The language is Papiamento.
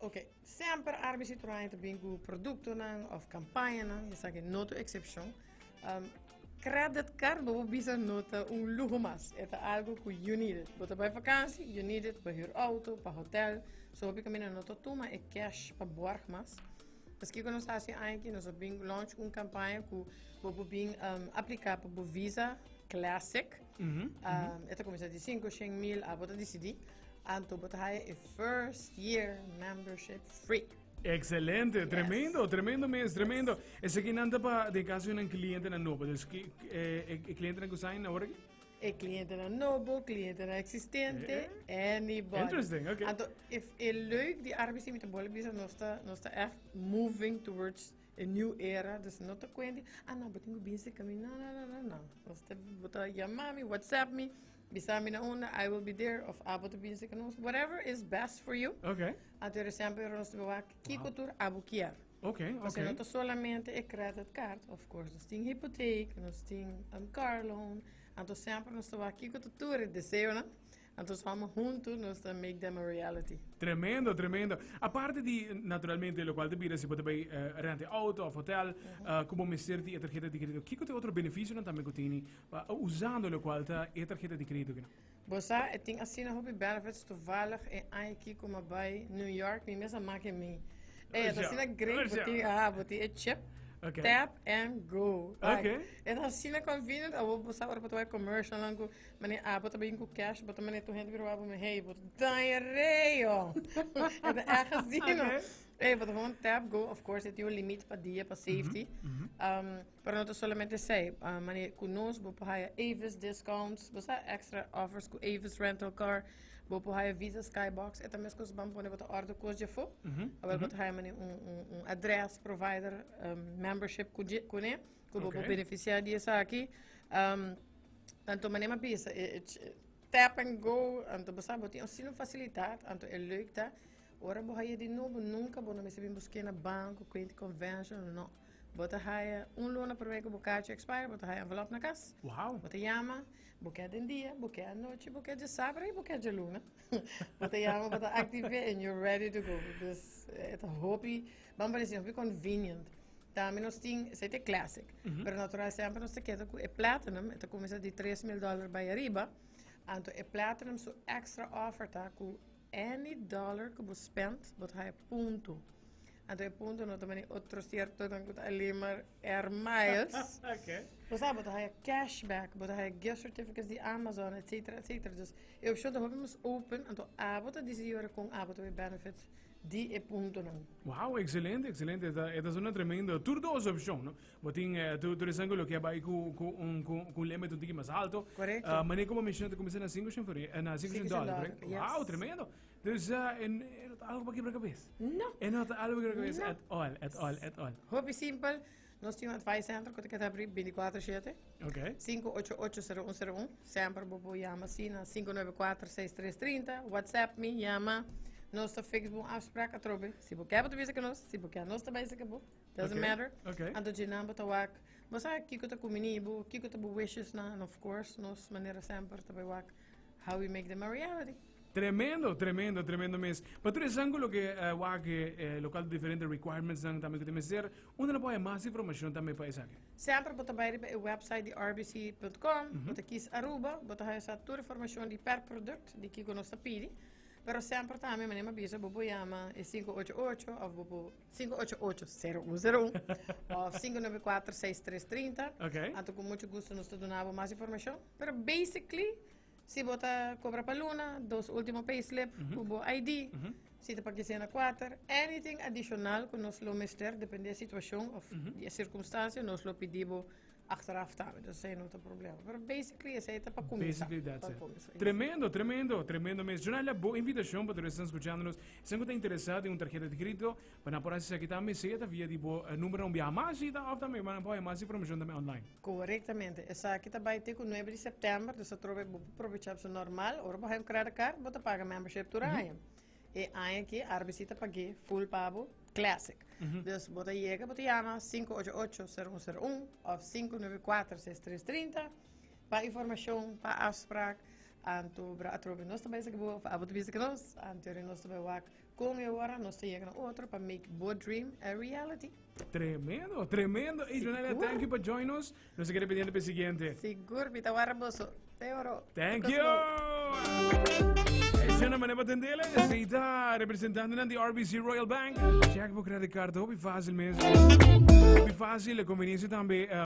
Ok, semper Arbis y Troaña ta bin cu productonan of campañanan, esaki e no ta excepcion. Um, credit card, bo bo bisa no ta un lujo mas, e ta algo cu you need it. Bo ta bay vakantie, you need it, pa huur auto, pa hotel, so hopi camina no ta tuma e cash pa borg mas. Pues kiko nos haci aña aki, nos a bin launch un campaña cu bo bo bin um, aplica pa bo visa classic, E ta kuminsá di sinku shen mil, a bo ta disidí anto bo ta haya e first year membership free. Excelente, tremendo, yes. tremendo mes, tremendo. Yes. Ese que nanta pa de caso de un cliente na nobo, dus eh, eh, eh, cliente na kusain na orgi? E cliente na nobo, cliente na existente, eh, anybody. Interesting, okay. Anto, if e leuk di arbeidsdienst bollen bisa, nos ta, nos ta echt moving towards E new era dus no ta kuente a nan bo tin ku binse ka mi nan nan nan nan nos ta bo ta yama mi whatsapp mi bisa mi na unda I will be there of abo ta binse ku nos whatever is best for you okay ato e resèmpe ora nos ta bo wak kiko tur abo kier okay okay pasobra no ta solamente e credit card of course nos tin hypotheek nos tin un car loan ato sèmper nos ta wak kiko ta tur e deseonan Anto samen huntu nos ta make dem a reality. Tremendo, tremendo. Aparte di, naturalmente, lo cual te bira si bo ta bay uh, eh, rente auto of hotel, uh, como mester di e tarjeta di crédito. Kiko te otro beneficio no también kutini uh, eh, usando lo cual ta e tarjeta di crédito kino? Bosa, e ting asina hopi benefits toevallig e ai kiko ma bay New York, mi mesa make mi. E, eh, asina great, boti, ah, boti e chip. Okay. Tap and go. Like, okay. It's así na convenient. Abo bosa ora pa commercial lango. Mane Apo ta bin ku cash bo ta mane tur hende bin roba bo mi hey bo ta daña reo e ta echt asino hey bo ta gewoon tap go of course e tin un limit pa dia pa safety um, pero no ta solamente esei uh, mane ku nos bo por haya Avis discounts bo sa extra offers ku Avis rental car bo por haya Visa Skybox e ta mes kos ban pone bo ta order kos dje fo awel bo ta haya mane un, un, un address provider um, membership ku dje kune ku bo por beneficia di esaki um, Anto mane ma bisa e, e tap and go, anto bo sa bo tin osino facilidad, anto e leuk ta ora bo haya di nobo nunca bo no mester bin busque na banco, quente conventional, no. Bo ta haya un luna primer que bo cacho expire, bo ta haya envelope na cas. Wow. Bo ta llama, bo quer den dia, bo quer anochi, bo quer dje sabra y bo quer dje luna. bo ta llama, bo ta active and you're ready to go. Dus e ta hopi Ban paresi hopi convenient. Tambe nos tin, esei ta e classic, pero natural semper nos ta keda cu e platinum, e ta cuminsa di tres mil dollar bay ariba. Anto e platinum su extra offer ta cu any dollar cu bo spend, bo ta haña punto. Anto e punto no ta mani otro ciertonan cu ta alin maar air miles. Bo sa, bo ta haña cashback, bo ta haña gift certificates di Amazon, etcetera, etcetera. Dus e opcion ta hopi mas open, anto abo ta decidi ora con abo ta bay benefit di e puntonan. Wow, excelente, excelente. Eta, eta zona tremendo. Tur dos opción, no? Botin, eh, tur, tur esan lo que bai cu, cu un, cu, cu un limit un tiki mas alto. Correcto. Uh, mané como menciona te comienza na 5 cent for, eh, na 5 cent dollar, correct? Yes. Wow, tremendo. Dus, uh, eh, en, en algo para quebra cabeza. No. En algo para quebra cabeza no. at all, at all, at all. Hopi simpel. Nos tin un advice center cu ta queda abri 24-7. Ok. 588-0101. Semper bo por llama si na 594-6330. WhatsApp mi, llama. Nos ta fix bon afspraak atrobe. Si bo quer bo ta bisa con nos. Si bo quer nos ta bisa con bo. Doesn't Ok, matter. ok. Anto djinan bo ta wak. Bo sa kiko ta cumini bo, kiko ta bo wishes nan. And of course, nos manera semper ta bay wak. How we make them a reality. Tremendo, tremendo, tremendo mes. Pa tur esan cu loke uh, wake, eh, local diferente requirements nan tambe cu te mester, unde lo puede mas informacion tambe pa esaki? Sempre bota bij riba e website di rbc.com, mm -hmm. bota kies Aruba, bota haya sa tur informacion di per product, di kiko nos ta pidi. Pero sempre tambe, manema bisa, bobo llama e 588 of bobo Sinku ocho ocho sero un sero un òf sinku nove kuater seis tres trinta. Ok. Anto ku muchu gustu nos ta duna bo mas informashon. Pero basically si bo ta kobra pa luna, dos último payslip ku bo ID, si ta pa kisena kuater, anything adishonal ku nos lo mester depende di e situashon òf di e sirkumstansia, nos lo pidi bo Achteraf ta met esei no ta problema. Pero basically esei ta pa kumsa. Basically that's pa it. Kumsa. Tremendo, tremendo, tremendo mes. Jonalia, bo invitacion pa todos escuchándonos. Sen que ta interesado en un tarjeta de crédito, pa na por hacer aquí también, sea ta via di bo uh, número un via más y ta of también, man por más información también online. Correctamente. Esaki ta bai te ku 9 de september, dus ta trobe bo pa aprovechar su normal. Ora bo hay un credit card, bo ta paga membership tur año. Mm -hmm. E aña aki Arbesi ta pag'é full pa bo classic. Dus bo ta yega bo ta yama sinku ocho ocho seru un seru un òf sinku nuebe kuater ses tres trinta pa informashon pa afsprak anto bra atrobe nos ta bai esaki bo òf abo ta bai esaki nos anteori nos ta bai wak kon e ora nos ta yega na otro pa make bo dream a reality. Tremendo, tremendo. Ey Donalia, thank you pa join nos. Nos a keda pendiente pa e siguiente. Sigur, mi ta wara boso. Te oro. Thank you. Ese no manepa tendele. Seita representante nan di RBC Royal Bank. Check bo credit card hopi fácil mes. Hopi fácil, conveniencia tambe. eh,